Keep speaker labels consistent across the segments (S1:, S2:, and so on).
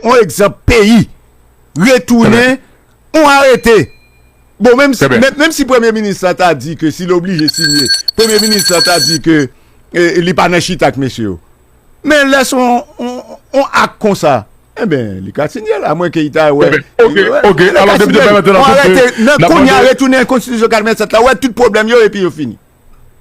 S1: On egzanp peyi retounen on arete. Bon menm si menm si premye minis la ta di ke si l oblije siyen premye minis la ta di ke li pa nan chita ak mesye yo. Men lè son on ak konsa enben li ka siyen l a mwen ke li ta wè
S2: on arete nan kounya
S1: retounen konstitisyon 87 la wè tout pwoblèm yo epi yo fini.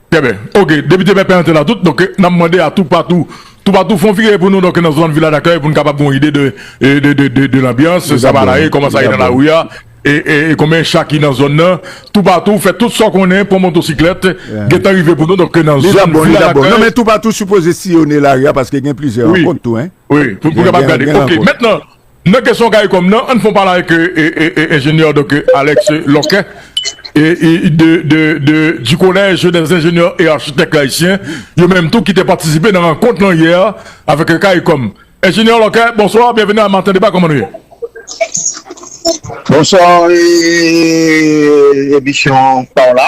S1: Pèpè
S2: ok depite pèpè antre la tout donk nap mande a tou patou tou patou fon vire pou nou donk nan zòn vila dakèy pou nou kapab gon ide de de de lanbyans sa va la ye kòman sa ye nan lari a e konbyen cha ki nan zòn nan tou patou fè tout sa w konnen pran motosiklèt gentan rive pou nou donk nan zòn vila dakèy nan men tou patou sipoze
S1: siyone lari a paske gen plizyè rankont tou wi pou nou kapab gade
S2: ok mètnan Nan kesyon Caricom nan, ann fon pale avèk enjenyè Dòk Alex Lorquet du Collège des Ingénieurs et Architectes Haïtiens, yo menm tou ki te patisipe nan rankont lan yè avèk Caricom. Enjenyè Lorquet, bonswa, byenveni nan Maten Deba, kòman nou ye? Bonswa,
S3: emisyon pa w la.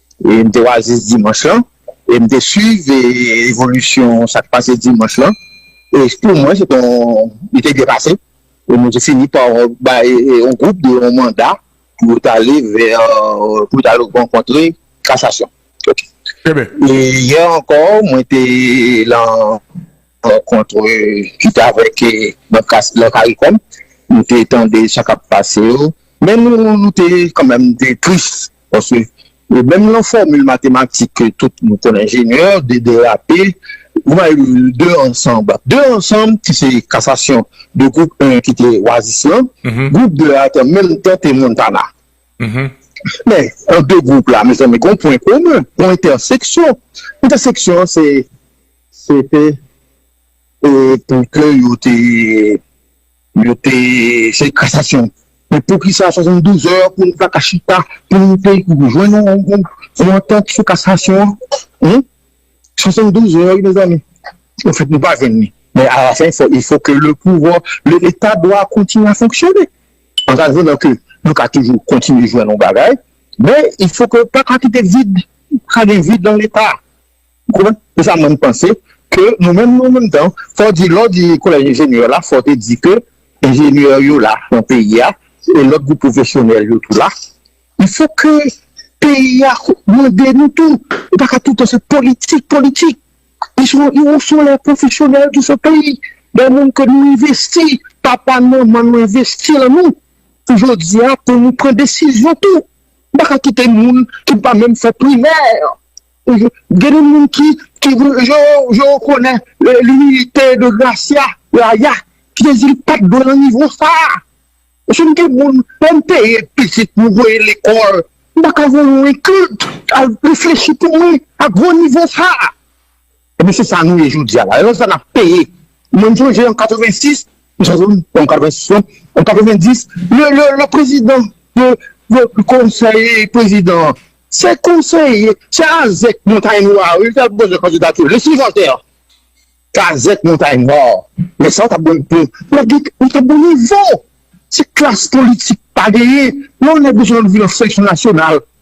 S3: E m te oasis dimanch lan e m te swiv evolisyon sa k pase dimanch lan e pou mwen se te yon li te byen pase e nou te fini pa bay yon gwoup de yon manda pou yo t ale vè pou yo t ale rankontre kasasyon ok e yè ankò mwen te lan rankontre ki te avèk lan karikom nou te tande sa k ap pase yo men nou te kanmèm te tris Paske menm lan fòmil matematik ke tout nou konn enjenyè, 2 derape, ou bay 2 ansanb. 2 ansanb ki se kasasyon 2 gwoup 1 ki te wazis lan, gwoup 2 a te menm tan te Montana. Men, an 2 gwoup la, mezanmi, gon pwen komen, gon entèseksyon. Entèseksyon an se, se te pou ke yo te. Yo te fè kasasyon. Men poukisa 72 è pou nou ta ka chita pou nou te jwenn yon antant sou kasasyon an? Hum? 72 è wi mezanmi. Ou fèt nou pa jwenn li. Men alafen fò il fò ke le pouvwa, le leta dwa kontinye a fonksyone. An ta jwenn an ke nou ka toujou kontinye jwenn yon bagay. Men il fò ke pa ka kite vid, pa ka gen vid lan leta. Ou konprann? Se sa mwen m panse ke nou menm nou menm tan fò w di lè w di kolèj enjenyè la fò w te di ke enjenyè yo la nan peyi a e lòt gwoup pwofesyonèl yo tou la il fò ke peyi a mande nou tou ou pa ka tout tan se politik politik li son yo son lè pwofesyonèl ki son peyi lè moun ke nou envesti papa manman nou envesti lan nou pou jodi a pou nou pran desizyon tou nou pa ka kite moun ki pa menm fè primè. Gen de moun ki yo konnen limilite de Gracia, Yaya, ki te di li pat dwe nan nivo sa. Mesye m gen moun lè m peye pitit m voye l lekòl, m pa ka voye yon include al reflechi pou mwen a gwo nivo sa. Ebyen se sa nou ye jodia la. Ebyen se sa nap peye. Mwen m sonje an 86, m sonje wi, pa an 86 non, an 90, le prezidan de konseye prezidan an, se konseye, se azèk montay nwa wi, li t al poze kandidati l, le sivantè an. Se azèk montay nwa an. Lè sa w tap jwenn pou, lè gen, ou tap gen nivo. Se klas politik pa genyen. Lè yon nèg bezwen antre nan seleksyon nasyonal.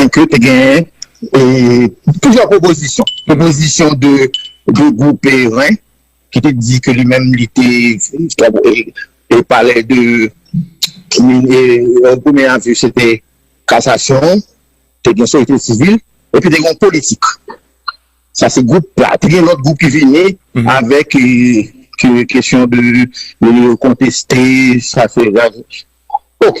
S3: Mwen kwè te gen plizyè pwopozisyon. Pwopozisyon de gwoup Perrin ki te di ke li menm li te te pale de yon premye avi se te kasasyon, te gen sosyete sivil epi te gen yon politik. Sa se gwoup la. Te gen lòt gwoup ki vini avèk kesyon de konteste sa se. Ok.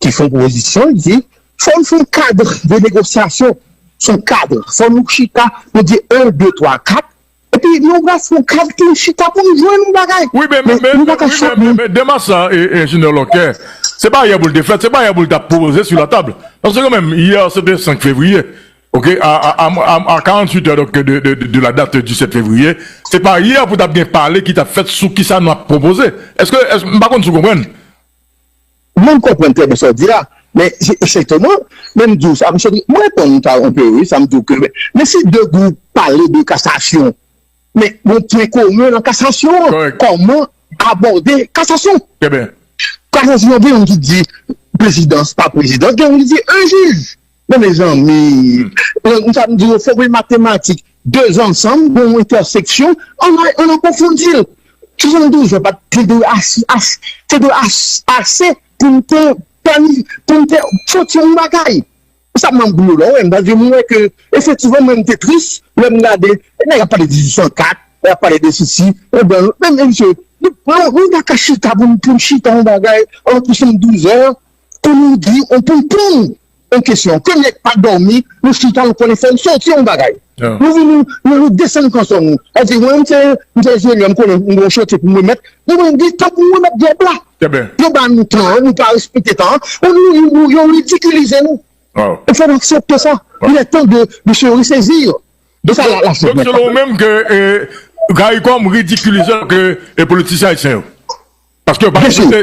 S3: ki fon pwopozisyon li di fò n fon kad de negosyasyon son kad fò nou chita nou di 1 2 3 4 epi nou bwè son kad pou nou chita pou nou jwenn yon bagay wi men nou pa ka chak
S2: moun. Men demach sa enjenyè Lòkè se pa yè pou l te fèt se pa yè pou l ta pwopoze su la tab paske kan menm yè se te 5 fevriye ok a a 48 è donk de la dat di 7 fevriye se pa yè pou ta gen pale ki ta fèt sou kisa nou ap pwopoze èske m pa konn si w konprann.
S3: Mwen m konprann trè byen sa w di a, men esètèman, men m di w sa, m sòti, m reponn ou ta anpe wi, sa m di w ke, men si 2 gwoup pale de kasasyon, men gon pwen komen nan kasasyon an, kòman abòde kasasyon. Trè byen.
S2: Kasasyon gen
S3: youn ki di prezidans pa prezidans, gen youn ki di 1 jij. Men mezanmi m sa m di yo fòmil matematik 2 ansanm gen yon entèseksyon an an konfondi l 72 an pat te dwe ase ase te dwe ase pou m te plani pou m te soti yon bagay se sa m ap di yo la wè paske m wè ke efektivman mwen m te tris lè m gade e nèg ap pale 1804 nèg ap pale de sesi e blan men msye nou pa ka chita pou m chita yon bagay an 72 an. Pou nou di ou pou poun ou kesyon ke nèg pa dòmi nou chita nou konnen fòm soti yon bagay nou vini nou desann kanson nou ou di mwen se mwen se enjenyè mwen konnen mwen gon chantye poum remèt nou menm di tank nou remèt djòb la yo ba nou tan an nou pa respekte tan an nou yo ridikilize nou ou fè nou aksepte sa il est temps de de se ressaisir de sa la
S2: chèz mèt la donk selon ou menm ke caricom ridikilize ke politisyen ayisyen yo. Paske yo pa respekte,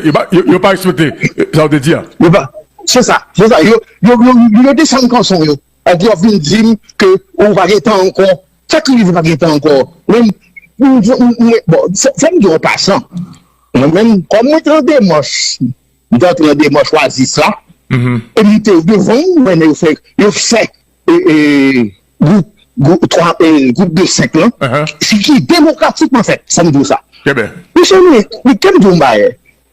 S2: yo pa respekte sa ou te di a. Yo pa, se sa,
S3: se sa, yo, yo, yo, yo desann kanson yo, epi yo vin di m ke ou pa gen tan ankò, sa ki rive pa gen tan ankò? Mwen, mwen, bon, fò m di w an pasan, mwen menm, kòm mwen te an demach, m te antre nan demach Oasis la, epi m te devan, mwen yo fè, yo fè, e, e, Gwoup de 5 lan, ki demokratikman fèt, sa m di w sa. Mesye mwen, men kèm di w yon bagay,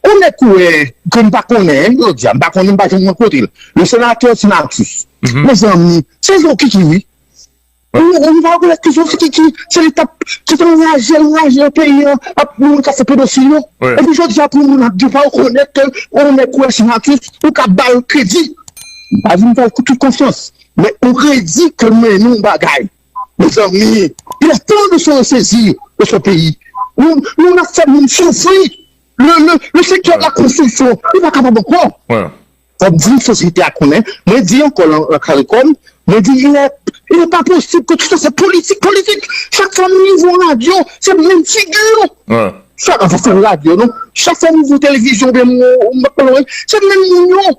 S3: yon nèg kou wè, ke m pa konnen, m yo di a, m pa konnen, m pa janm rankontre l, le senatè Ti Matus, mezanmi, se zokiki wi. Ou pa rekonèt ke zokiki, se li k ap, ki t ap anraje, anraje nan peyi an, ap moun k ap fè pedofili yo. Epi jodi a pou moun ap di w pa rekonèt ke yon nèg kou wè Ti Matus, ou ka ba l kredi. M pa di m fè l tout konfyans, Men ou redi ke mwen yon bagay mezanmi il est temps de se ressaisir de ce pays nou nap fè moun soufri le secteur de la construction li pa kapab ankò fòk di sosyete a konnen mwen di ankò lan karikom mwen di il est pas possible ke tout sa se politik politik chak fwa nou ouvri yon radyo se menm figi yo chak fwa nou ouvri yon televizyon se menm moun yo.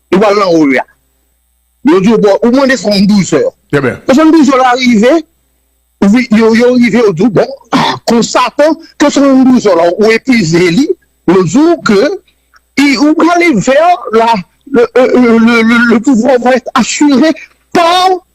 S3: Yo pral nan hall la. Yo di w bon, ou mande 72 zè. Trè byen. 72 zè la rive, yo rive yo di w bon, konstate ke 72 zè la ou epuize li, yo di w ke ou prale vè la, le pouvoir va être assuré par.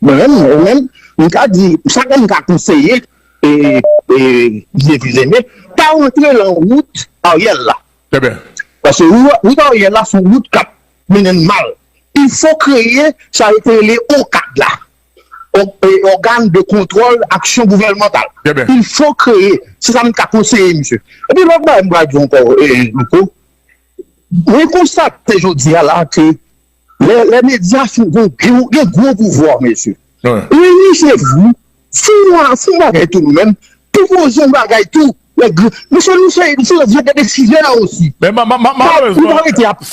S3: Mwen menm mwen menm m ka di sa ke m ka konseye Jezi Jene pa rantre lan wout Ariel la
S2: paske
S3: wout Ariel la son wout kap mennen n mal il fo kreye sa yo te rele OCAD la Organe de Controle Action Gouvernemental il fo kreye se sa m ka konseye misye epi lòt bagay m pral di w ankò Louko mwen konstate jodi a la ke Lè medya fou gen gwo pouvwa mesye. Wi se vre fon bagay tou nou menm pou poze yon bagay tou mesye nou se yon vye de desizè osi. Men
S2: malerezman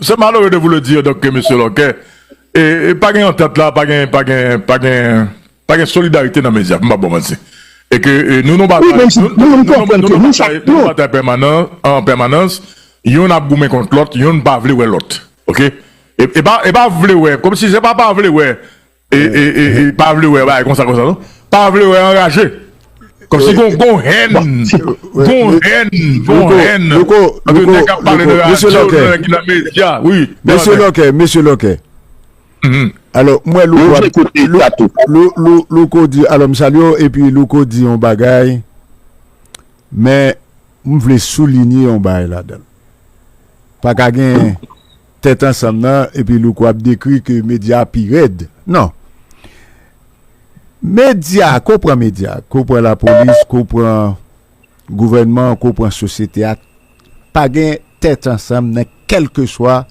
S2: se malere de vou le dire donk mesye lòkè e pa gen yon tèt la pa gen pa gen pa gen. Pa gen solidarite nan medya, pou m pa ba w manti. E ke nou nan batay, nou nan batay pèmanan, an pèmanans, youn ap goumen kont lòt, youn pa vle wè lòt. Ok? E pa, e pa vle wè, kòm si se pa pa vle wè, e, e, e, e, pa vle wè bagay konsa konsa non. Pa vle wè anraje. Kòm si gon, gon hèn. Gon hèn, gon hèn. Louko, Louko, Louko, Louko, Mesye
S1: Lòkè, Mesye Lòkè, Mesye Lòkè. Alò, m wè Louko ap, Louko di, alò m salye w, epi Louko di yon bagay, men m vle soulinye yon bagay ladan l. Pa ka gen tèt ansanm nan epi Louko ap dekri ke medya pi rèd. Non. Medya, ke w pran medya, ke w pran lapolis, ke w pran gouvènman, ke w pran sosyete a, Pa gen tèt ansanm nan kèlkeswa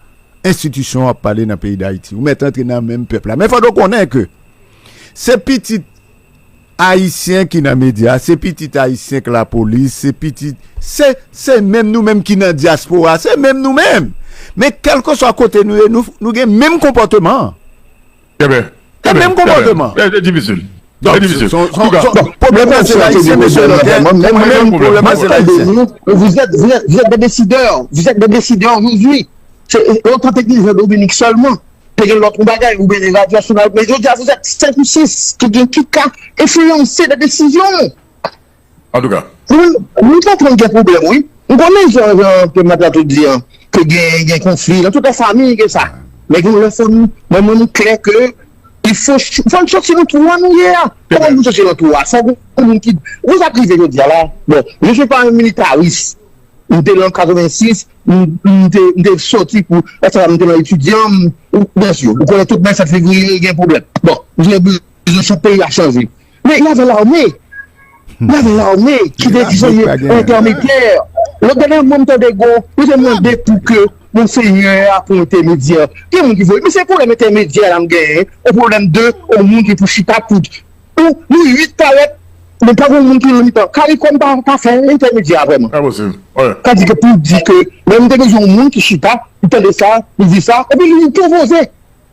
S1: enstitisyon w ap pale nan peyi Dayiti. Ou mèt antre nan menm pèp la. Men fòk ou konnen ke se pitit Ayisyen ki nan medya, se pitit Ayisyen k lapolis, se pitit, se, se menm nou menm ki nan dyaspora, se menm nou menm! Men kèlkeswa kote nou ye, nou gen menm konpòteman an.
S2: Kèbè. E menm konpòteman.
S1: Kèbè. E difisil.
S2: E difisil.
S1: Bon, son, son, son. Pwoblèm nan se ayisyen, mesye Lòtè. Mwen menm, mwen menm, pwoblèm nan se ayisyen. Vous êtes, vous êtes,
S3: vous êtes des décideurs. Vous êtes des décideurs aujourd'hui. Se, yo tante di Jean Dominique sèlman. Te gen lòt yon bagay, oubyen yon radyo nasyonal. Men jodi a, vous êtes 5 ou 6 ki gen, ki ka enfliyanse des décisions.
S2: antouka. Mwen
S3: konprann gen pwoblèm wi. M konnen jan jan ke Mad Latou di an ke gen gen konfli nan tout lòt famiy ke sa. Men gen yon lè fò nou mwen menm m klè ke il fò fò n soti nan twou a nou ye a. Kòman pou n soti nan twou a fò gen yon moun ki wè sa k rive jodi a la bon je suis pas un militaris m te lan 86 m te m te soti pou sa m te lan etidyan m ou konnen tout 27 fevriye gen pwoblèm bon m gen bezwen chak peyi a chanje Men y ave l'armée. Y ave l'armée ki vle di zònye entèmetè. Lòt bagay mwen m tande gon, yo te mande pou ke Monseyè a pou entèmedyè. Gen moun ki vle, men se pwoblèm entèmedyè la m genyen, o pwoblèm de on moun ki pou chita tout. Ou, nou 8 parèt, men pa gon moun ki nan mitan. Karikòm pa fè entèmedyè a vrèman. Enposib, wi. Sa
S2: di ke pou di
S3: ke, lè nou te bezwen on moun ki chita, li tande sa, li di sa, epi li pwopoze.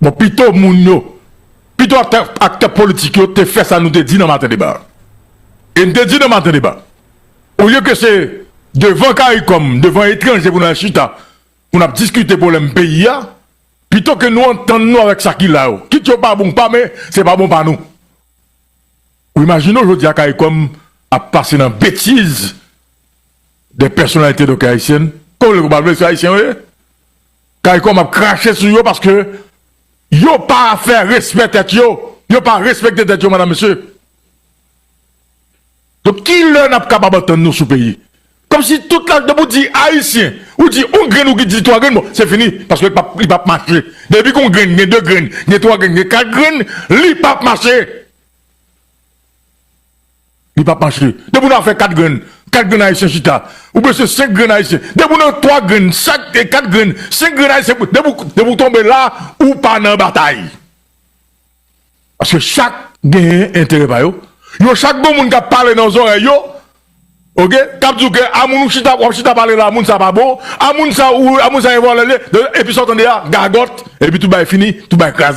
S2: Bon pito moun yo, pito aktè aktè politik yo te fè sa nou te di nan maten deba a. E n te di nan maten deba, olye ke se devan caricom, devan etranje pou nou al chita, pou n ap diskite pwoblèm peyi a, pito ke nou antann nou avèk sa ki la yo, kit yo pa bon ou pa men se pa bon pa nou. Ou imajine w jodi a caricom ap pase nan betiz de pèsonalite doktè Ayisyen, ke w vle ke w pa vle se Ayisyen yo ye. Caricom ap krache sou yo paske yo pa fè respè tèt yo, yo pa respekte tèt yo madam mesye. Donk ki lè nap kapab antann nou sou peyi? Kòm si tout la depi w di ayisyen, ou di yon grenn ou di 3 grenn bon se fini paske li pap li pap mache. Depi gon grenn gen 2 grenn, gen 3 grenn, gen 4 grenn li pap mache. Li pap mache. Depi w nan afè 4 grenn, 4 grenn ayisyen chita. Ou bese 5 grenn ayisyen. Depi w nan 3 grenn, 4 grenn, 5 grenn ayisyen, depi w tonbe la, ou pa nan batay. Paske chak genyen enterè pa yo. Yo chak gon moun k ap pale nan zòrèy yo, ok, k ap di w ke a moun ou chita, w ap chita pale la, moun sa pa bon, a moun sa, a moun sa e vòlè li ye, epi sa w tande a, gagòt, epi tout bagay fini, tout bagay kraze.